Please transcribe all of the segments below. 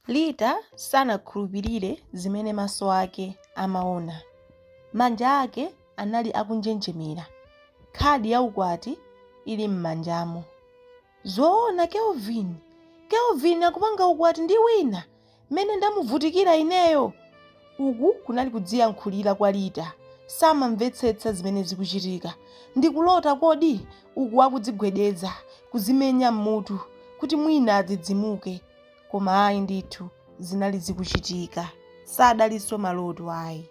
Lita sanakhulupirire zimene maso ake amaona. Manja ake anali akunjenjemera, khadi ya ukwati ili m'manjamo. Zoona, Kelvin? Kelvin akupanga ukwati ndi wina? Mmene ndamuvutikira ineyo! Uku kunali kudziyankhulira kwa Lita. Samamvetsetsa zimene zikuchitika. Ndikulota kodi? Uku akudzigwedeza, kuzimenya mmutu kuti mwina adzidzimuke. Koma ayi ndithu zinali zikuchitika. Sadalinso maloto ayi.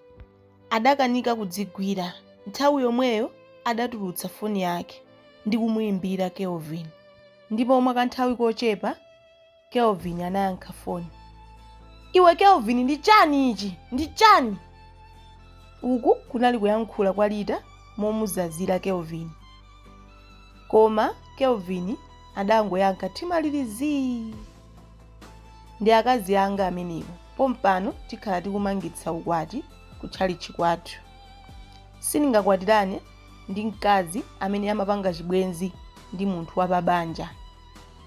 Adakanika kudzigwira. Nthawi yomweyo adatulutsa foni yake ndi kumuimbira Kelvin. Ndipo mwa kanthawi kochepa Kelvin anayankha foni. Iwe Kelvin ndi chani ichi? Ndi chani? Uku kunali kuyankhula kwa Lita momuzazira Kelvin. Koma Kelvin adangoyankha mtima uli zii. Ndi akazi anga amenewo. Pompano tikhala tikumangitsa ukwati ku tchalitchi kwathu. Sindingakwatirane ndi mkazi amene amapanga chibwenzi ndi munthu wapabanja.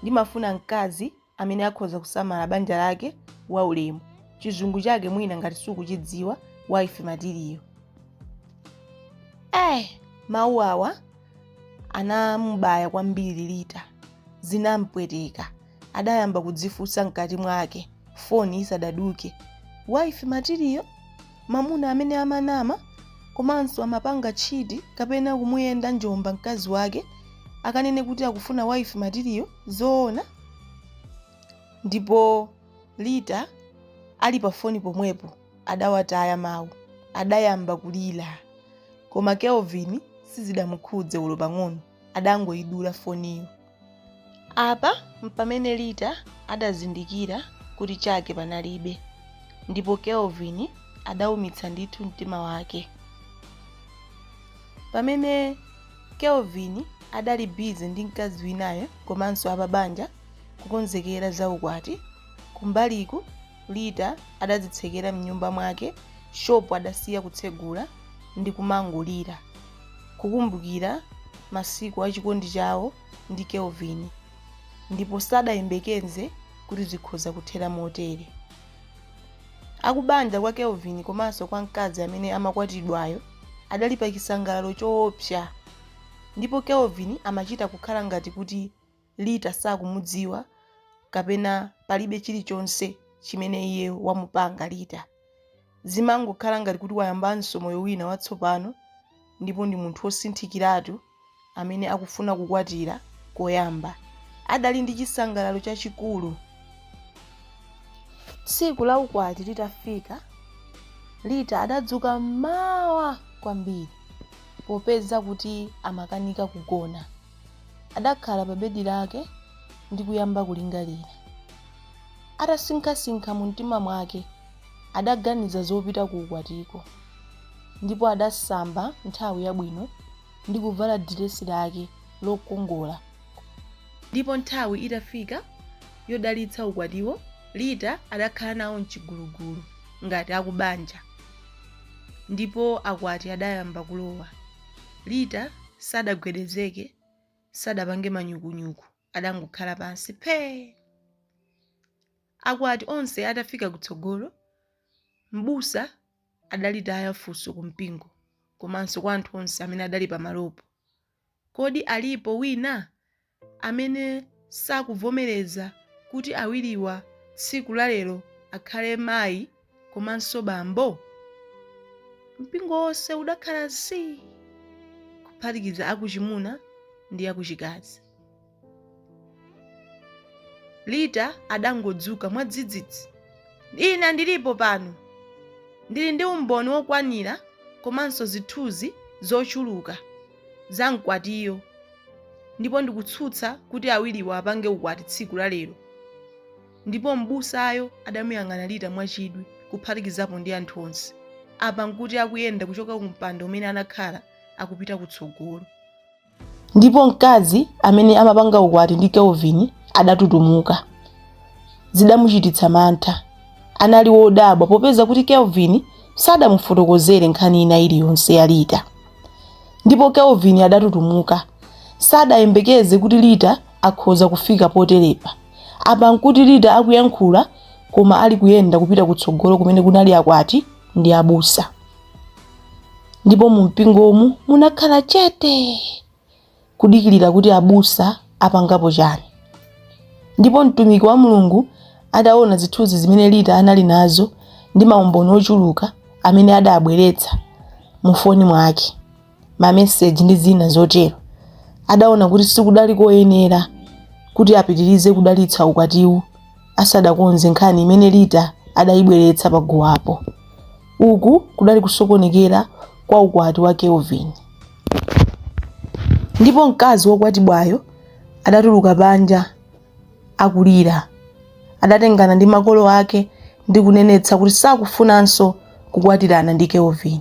Ndimafuna mkazi amene akhoza kusamala banja lake, waulemu, chizungu chake mwina ngati sukuchidziwa, wife material. Eh, mawu awa anamubaya kwambiri Lita. Zinampweteka. Adayamba kudzifunsa mkati mwake, foni isadaduke. Wife material? Mamuna amene amanama komanso amapanga cheat kapena kumuyenda njomba mkazi wake akanene kuti akufuna wife material zoona? Ndipo Lita ali pa foni pomwepo adawataya mau adayamba kulira koma Kelvin sizidamukhudze olo pang'ono adangoidula foniyo. Apa mpamene Lita adazindikira kuti chake panalibe ndipo Kelvin adaumitsa ndithu mtima wake. Pamene Kelvin adali busy ndi mkazi winayo komanso apabanja kukonzekera za ukwati, kumbaliku Lita adadzitsekera mnyumba mwake shopu adasiya kutsegula ndi kumangolira. kukumbukira masiku a chikondi chawo ndi Kelvin ndipo sadayembekeze kuti zikhoza kuthera motere. Akubanja kwa Kelvin komanso kwa mkazi amene amakwatidwayo adali pa chisangalalo choopsa ndipo Kelvin amachita kukhala ngati kuti Lita sakumudziwa, kapena palibe chirichonse chimene iye wamupanga Lita. Zimangokhala ngati kuti wayambanso moyo wina watsopano, ndipo ndi munthu wosinthikiratu amene akufuna kukwatira koyamba. Adali ndi chisangalalo chachikulu. Tsiku la ukwati litafika, Lita adadzuka m'mawa kwambiri, popeza kuti amakanika kugona. Adakhala pa bedi lake ndi kuyamba kulingalira. Atasinkhasinkha mumtima mwake, adaganiza zopita ku ukwatiko, ndipo adasamba nthawi yabwino ndi kuvala diresi lake lokongola. Ndipo nthawi itafika yodalitsa ukwatiwo, Lita adakhala nawo m'chigulugulu ngati akubanja, ndipo akwati adayamba kulowa. Lita sadagwedezeke, sadapange manyukunyuku, adangokhala pansi phee! Akwati onse atafika kutsogolo, mbusa adalitaya funso ku mpingo komanso kwa anthu onse amene adali pamalopo. Kodi alipo wina amene sakuvomereza kuti awiriwa tsiku la lero akhale mayi komanso bambo? Mpingo wonse udakhala zii kuphatikiza akuchimuna ndi akuchikazi. Lita adangodzuka mwadzidzidzi. Ine ndilipo pano! Ndili ndi umboni wokwanira komanso zithunzi zochuluka za mkwatiyo. ndipo ndikutsutsa kuti awiriwo apange ukwati tsiku la lero ndipo m'busayo adamuyang'ana lita mwachidwi kuphatikizapo ndi anthu onse apa nkuti akuyenda kuchoka ku mpando umene anakhala akupita kutsogolo ndipo mkazi amene amapanga ukwati ndi kelvin adatutumuka zidamuchititsa mantha anali wodabwa popeza kuti kelvin sadamufotokozere nkhani ina iliyonse ya lita ndipo Kelvin adatutumuka. Sadayembekeze kuti Lita akhoza kufika poterepa. Apa nkuti Lita akuyankhula koma ali kuyenda kupita kutsogolo kumene kunali akwati ndi abusa. Ndipo mumpingomu munakhala chete. kudikilira kuti abusa apangapo chani. Ndipo mtumiki wa Mulungu ataona zithunzi zimene Lita anali nazo ndi maumboni ochuluka amene adabweretsa mu foni mwake, ma message ndi zina zotero, adaona kuti sikudali koyenera kuti apitilize kudalitsa ukwatiwu asadakonze nkhani imene Lita adayibweretsa paguwapo. Uku kudali kusokonekera kwa ukwati wa Kelvin. ndipo mkazi wokwatibwayo adatuluka panja akulira. Adatengana ndi makolo ake ndi kunenetsa kuti sakufunanso kukwatirana ndi Kelvin.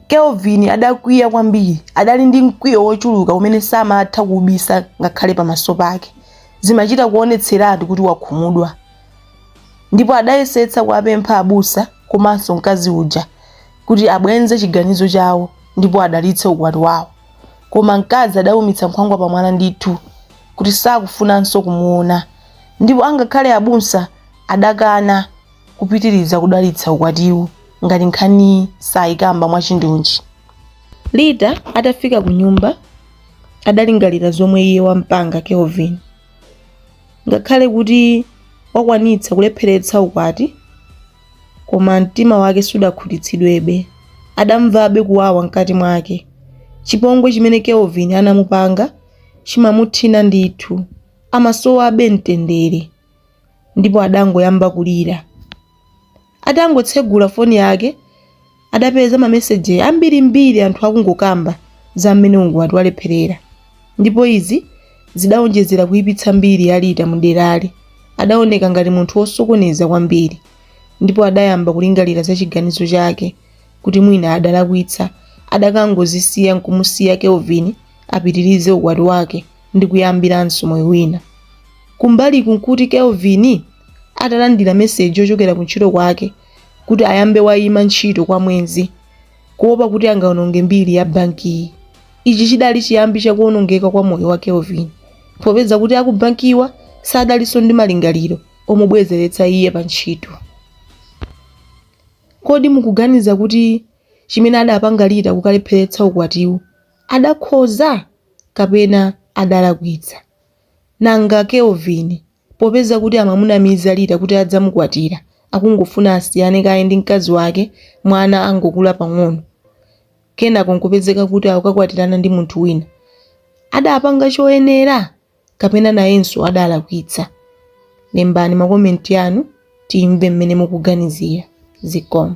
Kelvin adakwiya kwambiri, adali ndi mkwiyo wochuluka umene samatha kuubisa ngakhale pamaso pake. Zimachita kuonetseratu kuti wakhumudwa ndipo adayesetsa kuwapempha abusa komanso mkazi uja kuti abwenze chiganizo chawo ndipo adalitse ukwati wawo. Koma mkazi adaumitsa nkhwangwa pamwala ndithu, kuti sakufunanso kumuona, ndipo angakhale abusa adakana kupitiliza kudalitsa ukwatiwu ngati nkhaniyi sayikamba mwachindunji. Lita atafika kunyumba adalingalira zomwe iye wampanga Kelvin. Ngakhale kuti wakwanitsa kulepheretsa ukwati Koma mtima wake sudakhutitsidwebe. Adamvabe kuwawa mkati mwake. Chipongwe chimene Kelvin anamupanga chimamuthina ndithu. Amasowabe mtendere. Ndipo adangoyamba kulira. Atangotsegula foni yake, adapeza mameseji ambirimbiri anthu akungokamba za mmene ukwati walepherera ndipo izi zidaonjezera kuipitsa mbiri ya Lita muderali. Adaoneka ngati munthu wosokoneza kwambiri ndipo adayamba kulingalira za chiganizo chake kuti mwina adalakwitsa adakangozisiya nkumusiya Kelvin apitirize ukwati wake ndi kuyambiranso moyo wina. Kumbaliku nkuti Kelvin atalandira meseji yochokera kuntchito kwake kuti ayambe waima ntchito kwa mwezi kuopa kuti angaononge mbiri ya bankiyi. Ichi chidali chiyambi cha kuonongeka kwa moyo wa Kelvin popeza kuti aku bankiwa sadalinso ndi malingaliro omubwezeretsa iye pa ntchito. Kodi mukuganiza kuti chimene adapanga Lita kukalepheretsa ukwatiwu adakhoza kapena adalakwitsa? Nanga Kelvin Popeza kuti amamunamiza Lita kuti adzamukwatira, akungofuna asiyane kaye ndi mkazi wake mwana angokula pang'ono, kenako n'kupezeka kuti akukakwatirana ndi munthu wina. Adapanga choyenera? Kapena nayenso adalakwitsa? Lembani makomenti anu timve mmene mukuganizira. Zikomo.